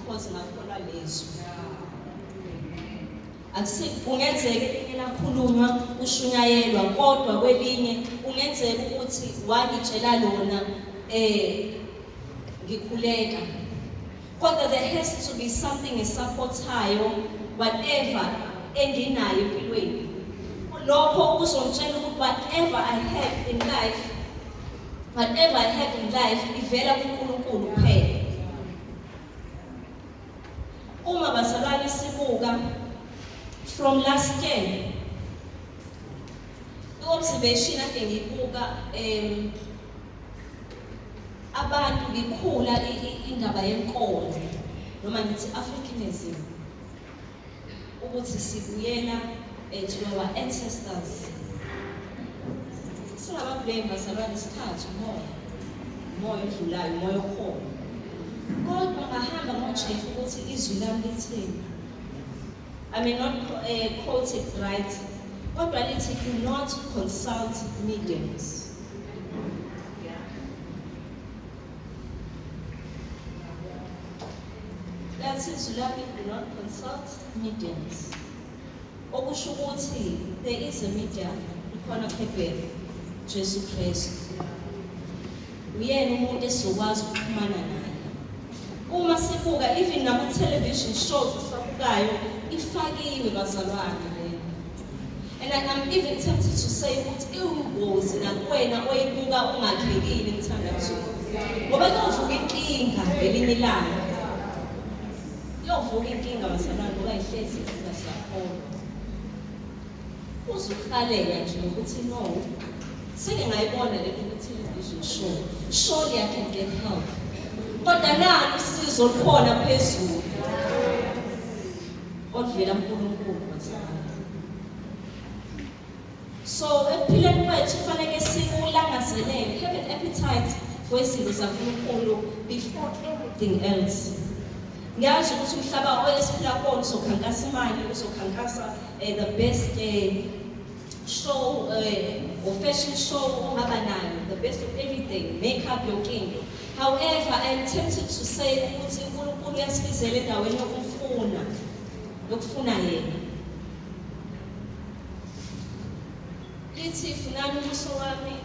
because ngakholwa lizwi akusi kungenzeka elinye lakhulunywa kushunyayelwa kodwa kwelinye kungenzeka ukuthi wangitshela lona eh ngikhuleka kodwa there has to be something esupportayo whatever enginayo empilweni lokho kuzongitshela ukuthi whatever i have in life Whatever I have in life ivela kuNkulunkulu kuphela. Uma bazalwane sibuka from last year i-observation ade ngiyibuka um abantu ngikhula indaba yenkolo noma ngithi Africanism ukuthi sibuyela eh, to our ancestors singababheki bazalwane isikhathi umoya umoya odlulayo umoya okhona kodwa ngahamba ngojesu ukuthi izwi lami lithini i may not uh, quote it right kodwa lithi do not consult mediums That is Zulami do not consult mediums. Okusho ukuthi there is a medium ukhona phephere Jesu Kristu. Uyena umuntu esizokwazi ukuxhumana naye. Uma sibuka even nama television shows sabukayo ifakiwe bazalwane And I'm even tempted to say ukuthi iwungozi nakuwena oyibuka ungakhekile mthandazo. Ngoba kuyovuka inkinga ngelinye ilanga. Kuyovuka inkinga basalwane ngoba ihlezi inkinga siyakhona. Uzukhalela nje ukuthi no. Sike ngayibona le ukuthi izosho. Surely I can get help. Kodwa nalo usizo lukhona phezulu. oluvela kuNkulunkulu kwenzekani. So ekuphileni kwethu kufanele sikulangazelele, have an appetite for izinto zaNkulunkulu before everything else. Ngiyazi ukuthi umhlaba oyesiphila kuwona uzokhankasa imali, uzokhankasa eh, the best day. show uh, or fashion show ongaba nayo the best of everything make up your king however i am tempted to say ukuthi unkulunkulu uyasibizela endaweni yokumfuna yokufuna yena lithi funani ubuso wami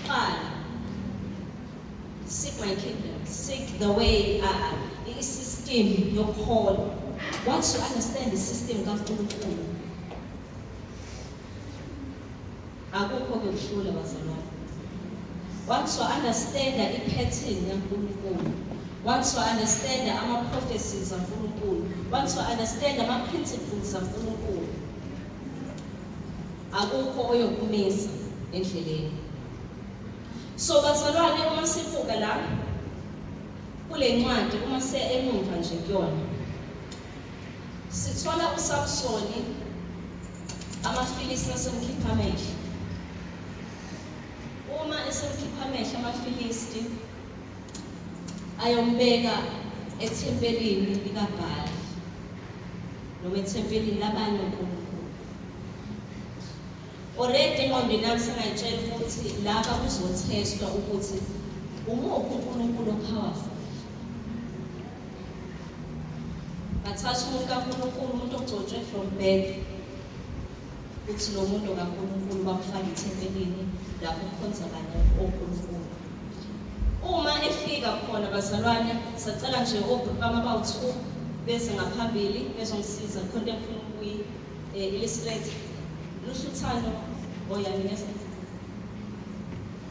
qala seek my kingdom seek the way uh, i-system yokuhola once you understand the system kankulunkulu akukho-ke kuhlula bazalwane once wa-understanda i-pattern yankulunkulu once wa-understanda ama-prophecies ankulunkulu once wa-understanda ama-principles ankulunkulu akukho oyokumisa endleleni so bazalwane uma sibuka la kule ncwadi uma siya emumva nje kuyona Sithola uSamsoni amaFilisti asemkhipha amehlo. Uma esemkhipha amehlo amaFilisti ayombeka ethempelini likaBhali noma ethempelini labanye onkulunkulu. Already engqondweni yami sengayitshela ukuthi laba kuzothestwa ukuthi umuphi uNkulunkulu ophawafu ngathatha umuntu kaNkulunkulu umuntu ogcotshwe from birth ukuthi lo muntu kaNkulunkulu bamfake ethempelini lapho kukhonza kanye oNkulunkulu uma efika khona bazalwane sacela nje obhuti bami abawu-two beze ngaphambili bezongisiza khona engifuna ukuyi um eh, illustrate luhluthano oyani ngeza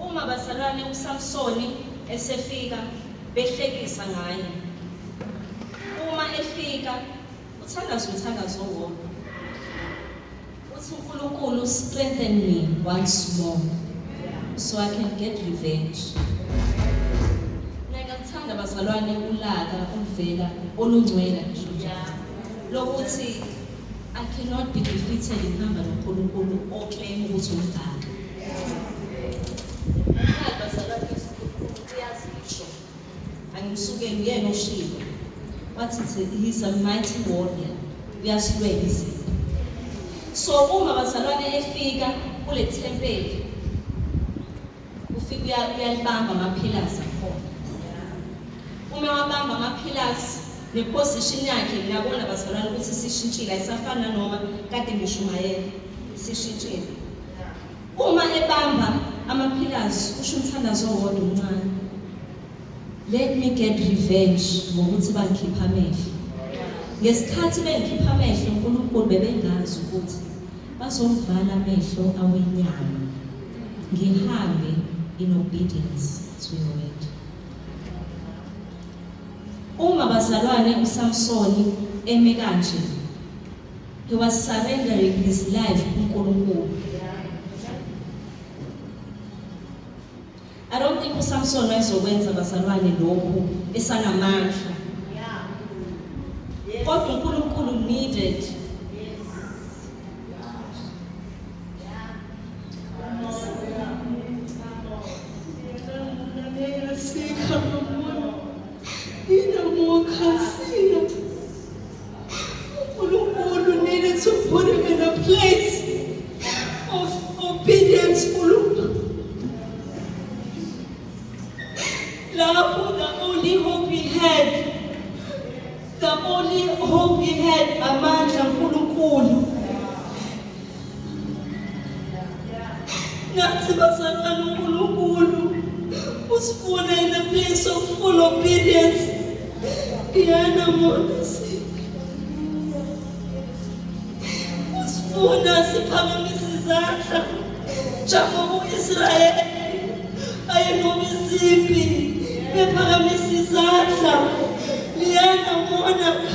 Uma bazalwane uSamsoni esefika behlekisa ngaye. Uma efika uthandaza umthandazo owodwa. Uthi uNkulunkulu strengthen me once more so I can get revenge. Ngiyakuthanda bazalwane ulaka oluvela olungcwele nje lokuthi I cannot be defeated ngihamba noNkulunkulu oclaim ukuthi ungaka. Umhamba salapha uyazisho. Angisuke nguyena oshilo. Wathi he's a mighty warrior. Uyasilwela izinto. So uma bazalwane efika kule thempeli ufike uyalibamba amaphilasi akhona uma wabamba amaphilasi neposition yakhe ngiyabona bazalwane ukuthi sishintshile ayisafana noma kade ngishumayela sishintshile uma ebamba amaphilasi usho umthandazo owodwa omncane let me get revenge ngokuthi bangikhipha amehlo ngesikhathi bengikhipha amehlo unkulunkulu bebengazi ukuthi Bazomvala amehlo awenyama ngihambe in obedience to your word. Uma bazalwane uSamsoni eme kanje he was surrendering his life kuNkulunkulu. I don't think uSamson wayezokwenza bazalwane lokhu esanamandla. Kodwa uNkulunkulu needed Sikha nomuntu. Inomukhasi. uNkulunkulu needed to put him in a place of obedience uNkulunkulu lapho the only hope he had the only hope he had amandla uNkulunkulu ngathi bazalwane uNkulunkulu usifune in a place of full obedience Diana Monesi usifuna siphakamise izandla njengoba u-Israyeli ayenqoba izimpi bephakamise izandla Liana Monaka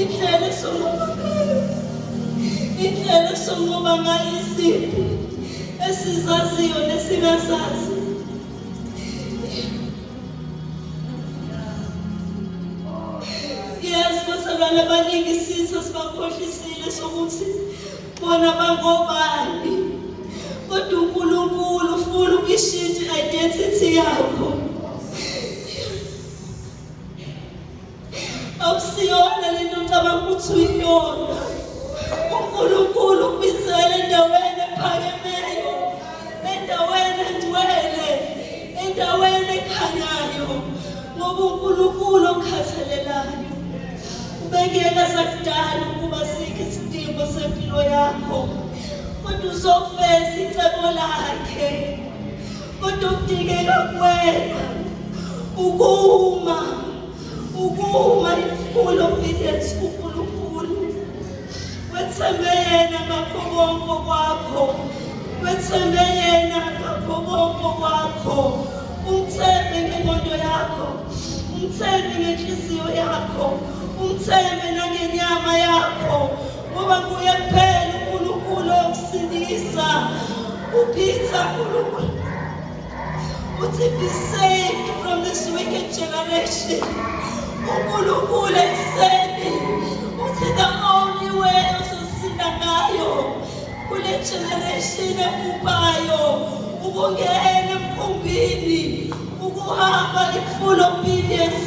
indlela esunqoba ngayo indlela esunqoba ngayo izinto esizaziyo nesingazazi yes basabana abaningi isitha sibakhohlisile sokuthi bona bangobani kodwa unkulunkulu ufuna ukuyishintsha i-identity yakho Awusiyona le nto ngicabanga ukuthi uyiyona. UNkulunkulu ukubizele endaweni ephakemeyo, endaweni engcwele, endaweni ekhanyayo, ngoba uNkulunkulu okhathalelayo ubekela sakudala ukuba sikhe isidingo sempilo yakho kodwa uzofeza icebo lakhe kodwa okudingeka kuwena ukuma ukuma ifull obedience kunkulunkulu wethembe yena ngakho konke kwakho wethembe yena ngakho konke kwakho umthembe ngengondo yakho umthembe ngenhliziyo yakho umthembe nangenyama yakho Ngoba kuye kuphela uNkulunkulu okusindisa. Uphitha uNkulunkulu. Uthi be saved from this wicked generation. UNkulunkulu ekuseni uthi the only way ozosinda ngayo kule generation ebhubhayo ukungena emkhumbini ukuhamba i-full obedience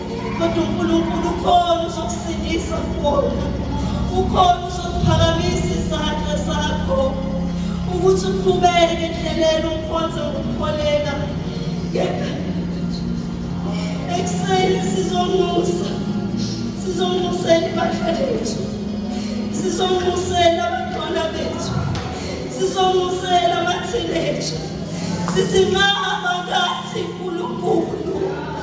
kodwa uNkulunkulu ukhona uzokusindisa kubona ukhona uzokuphakamisa izandla zakho ukuthi uqhubeke endleleni umkhonze ngokukholeka kepha ekuseni sizonxusa sizonxusela ibandla lethu sizonxusela abantwana bethu sizonxusela amathineja sithi nxa amakati nkulunkulu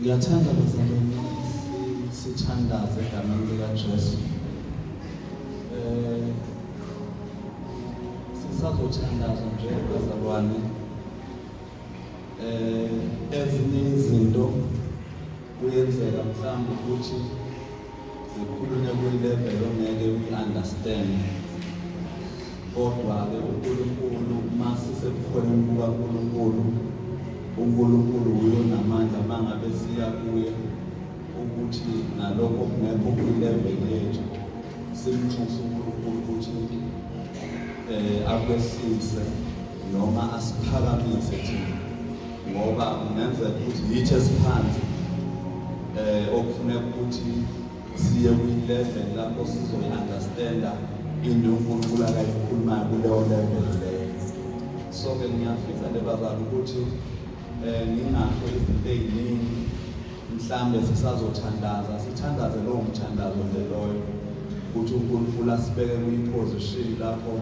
Ngiyathanda bazalwane sithandaze egameni likaJesu. Eh sisazothandaza nje bazalwane. Eh ezinye izinto Kuyenzeka mhlawumbe ukuthi zikhulunywe kwi-level ongeke uyi-understand kodwa-ke uNkulunkulu masisebukhoneni bukaNkulunkulu uNkulunkulu wuyo namandla mangabe siya kuye ukuthi nalokho kungekho kwi-level yethu simnxuse uNkulunkulu ukuthi um akwehlise noma asiphakamise thina ngoba kungenzeka ukuthi yithi esiphansi eh okufuneka ukuthi siye kwi-level lapho sizoyi-understanda into unkulunkulu akayikhulumayo kuleyo level leyo so-ke ngiyafisa le bazali ukuthi um ngingasho izinto ey'ningi Mhlambe sisazothandaza sithandaze lowo mthandazo nje loyo ukuthi uNkulunkulu asibeke kwiposition lapho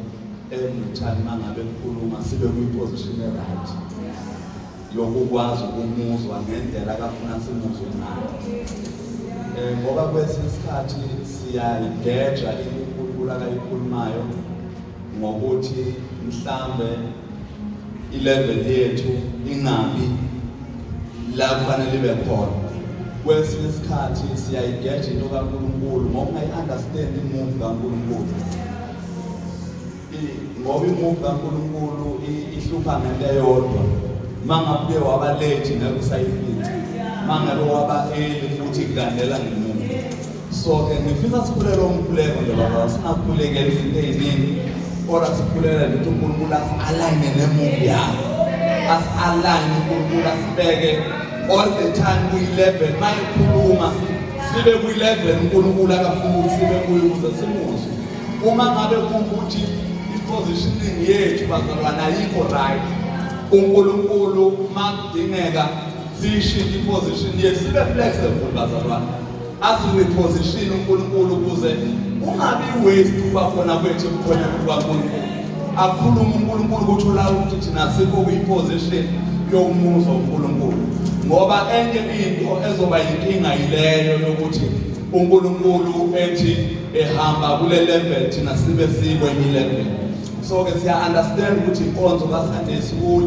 emuthani mangabe kukhuluma sibe kwiposition eright yokukwazi ukumuzwa ngendlela akafuna simuzwe ngayo um ngoba kwesinye isikhathi siyayigeja inkulunkulu akayikhulumayo ngokuthi mhlambe ilevel yethu ingabi la kufanele ibe khona kwesinye isikhathi siyayigeja into kaNkulunkulu ngoba ungayi-understand imuvi kaNkulunkulu ngoba imuvi kaNkulunkulu ihlupha ngento eyodwa uma ngabe uye waba late ngeke usayifica uma ngabe waba early futhi kulandela ngemuva so ke ngifisa sikhulele umkhuleko nje baba singakhulekeli izinto eziningi kodwa sikhulele ukuthi unkulunkulu asi-alayine nemuvi yakho asi-alayine unkulunkulu asibeke all the time kwi-level ma ikhuluma sibe kwi-level unkulunkulu akafuna ukuthi sibe kuyo ukuze simuzwe uma ngabe kuwukuthi i-positioning yethu bazalwane ayikho right unkulunkulu makudingeka siyishintshe i-position yethu sibe flexible bazalwane Azume position uNkulunkulu ukuze ungabi waste kuba khona kwethu kukhona kuba kuNkulunkulu. Akhuluma uNkulunkulu ukuthi ulawo ukuthi thina sikho kuyiposition yokumuzwa uNkulunkulu. Ngoba enye into ezoba yinkinga yileyo yokuthi uNkulunkulu ethi ehamba kule level thina sibe sikwenye level. so ke siya understand ukuthi inkonzo ka Sunday school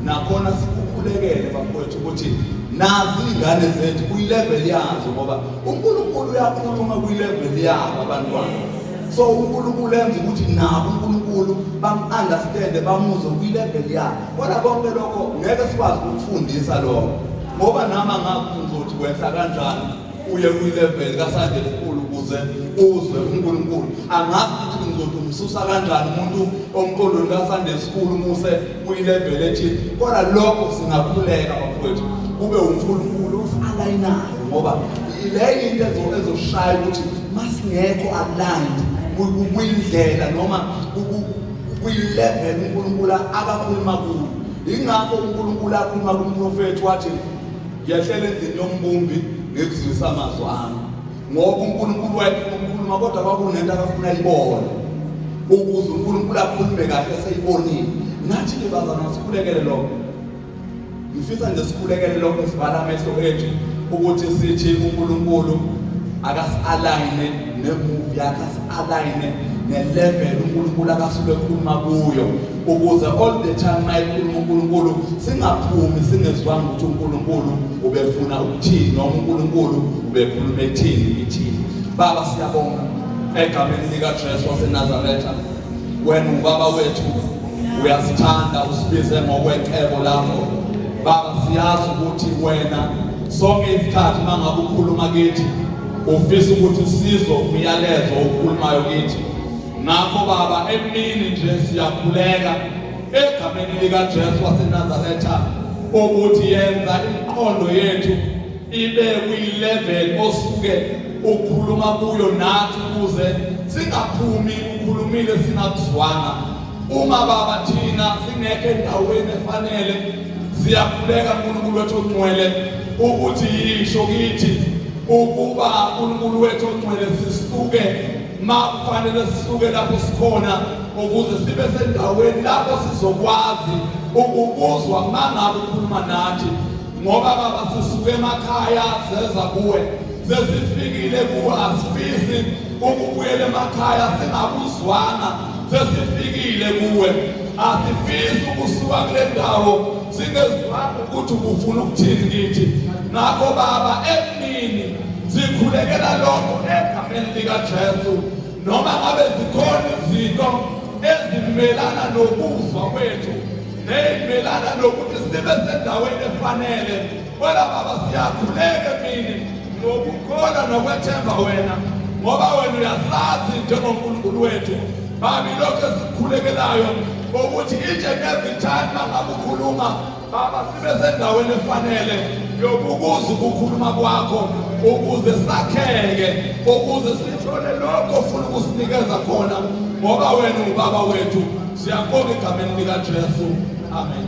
nakhona sikukhulekele bakwethu ukuthi nazi ingane zethu kuyi level yazo ngoba uNkulunkulu uyakhuluma kuyi level yabo abantwana so uNkulunkulu enza ukuthi nabo uNkulunkulu bamunderstand bamuzwe kuyi level yabo kodwa konke lokho ngeke sikwazi ukufundisa lokho ngoba nama ngakuzothi kwehla kanjani uye kwilevel kasande elikhulu ukuze uzwe uNkulunkulu angazi ukuthi ngizothi umsusa kanjani umuntu omqondweni kasande esikhulu muse kuyilevel ethi kodwa lokho singakhuleka bafowethu kube uNkulunkulu osalayinayo ngoba le into ezoshaya ukuthi masingekho aligned kuyindlela noma kuyilevel uNkulunkulu abakhuluma kuyo ingakho uNkulunkulu akhuluma kumprofethi wathi ngiyahlela endlini yombumbi ngikuzwisa amazwi ami ngoba unkulunkulu wayefuna ukukhuluma kodwa kwakunento akafuna ayibone ukuze unkulunkulu akhulume kahle eseyibonile nathi-ke bazana sikhulekele lokho ngifisa nje sikhulekele lokho sivala amehlo ethu ukuthi sithi unkulunkulu akasi-alayine nemuvi yakhe asi-alayine ne-level unkulunkulu akasuke ekhuluma kuyo ukuze all the time mayikhuluma uNkulunkulu singaphumi singezwanga ukuthi uNkulunkulu ubefuna ukuthini noma uNkulunkulu ubekhuluma ethini kithini baba siyabonga egameni lika Jesu waseNazaretha wena ubaba wethu uyasithanda usibize ngokwecebo lakho baba siyazi ukuthi wena sonke isikhathi mangabe ukhuluma kithi ufisa ukuthi sizo umyalezo okhulumayo kithi Ngakho Baba, emini nje siyakhuleka egameni likaJesu waseNazaretha ukuthi yenza imiqondo yethu ibe kwilevel osuke ukhuluma kuyo nathi ukuze singaphumi ukhulumile singakuzwanga uma baba thina singekho endaweni efanele siyakhuleka uNkulunkulu wethu ongcwele ukuthi yisho kithi ukuba uNkulunkulu wethu ongcwele sisuke ma kufanele sisuke lapho sikhona ukuze sibe sendaweni lapho sizokwazi ukubuzwa mangabe ukhuluma nathi ngoba baba sisuke emakhaya seza kuwe sesifikile kuwe asifisi ukubuyela emakhaya singakuzwanga sesifikile kuwe asifisi ukusuka kule ndawo singezwanga ukuthi ubufuna ukuthini kithi ngakho baba emini Sikhulekela lokho egameni likaJesu noma ngabe zikhona izinto ezimelana nokuzwa kwethu nezimelana nokuthi sibe sendaweni efanele wena baba siyakhuleka mina ngokukholwa nokwethemba wena ngoba wena uyasazi njengonkulunkulu wethu babi lokho esikhulekelayo ukuthi itshe nezithanda ngakukhuluma Baba sibe sendaweni efanele yokukuza ukukhuluma kwakho ukuze sakheke ukuze sithole lokho ofuna ukusinikeza khona ngoba wena ubaba wethu siyabonga egameni likaJesu amen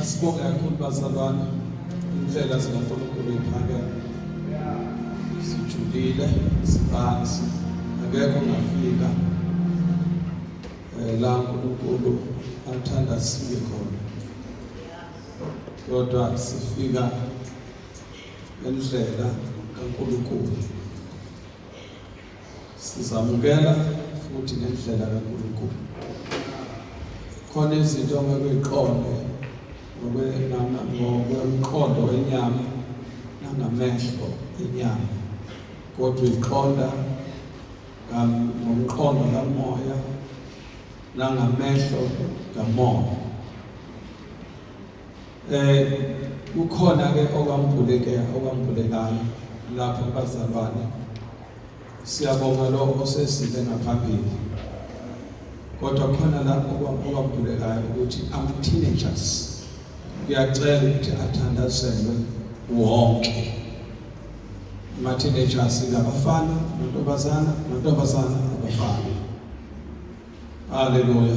Asibonge kakhulu bazalwane indlela zikaNkulunkulu iphakeme sijulile sibanzi akekho ngafika eh, la uNkulunkulu athanda sibe khona kodwa sifika Ngendlela kaNkulunkulu. Sizamukela futhi ngendlela kaNkulunkulu. Khona izinto ongeke uyiqonde ngokwemqondo wenyama nangamehlo enyama kodwa uyiqonda ngomqondo kamoya nangamehlo kamoya Eh kukhona ke okwambuleke okwambulekayo lapho bazalwane. Siyabonga lo osesile ngaphambili. Kodwa khona lapho okwambulekayo ukuthi ama teenagers kuyacela ukuthi athandazelwe wonke. Ama teenagers ngabafana, nontombazana, nontombazana, abafana. Haleluya.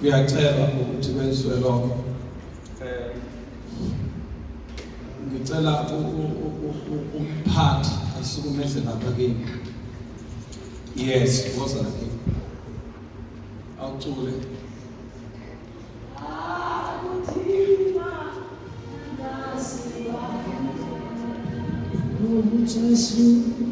Ngiyacela ukuthi kwenziwe lokho. Eh, ngicela umphathi asukumeze lapha kimi. Yes, woza lapha. Awucule. Just you.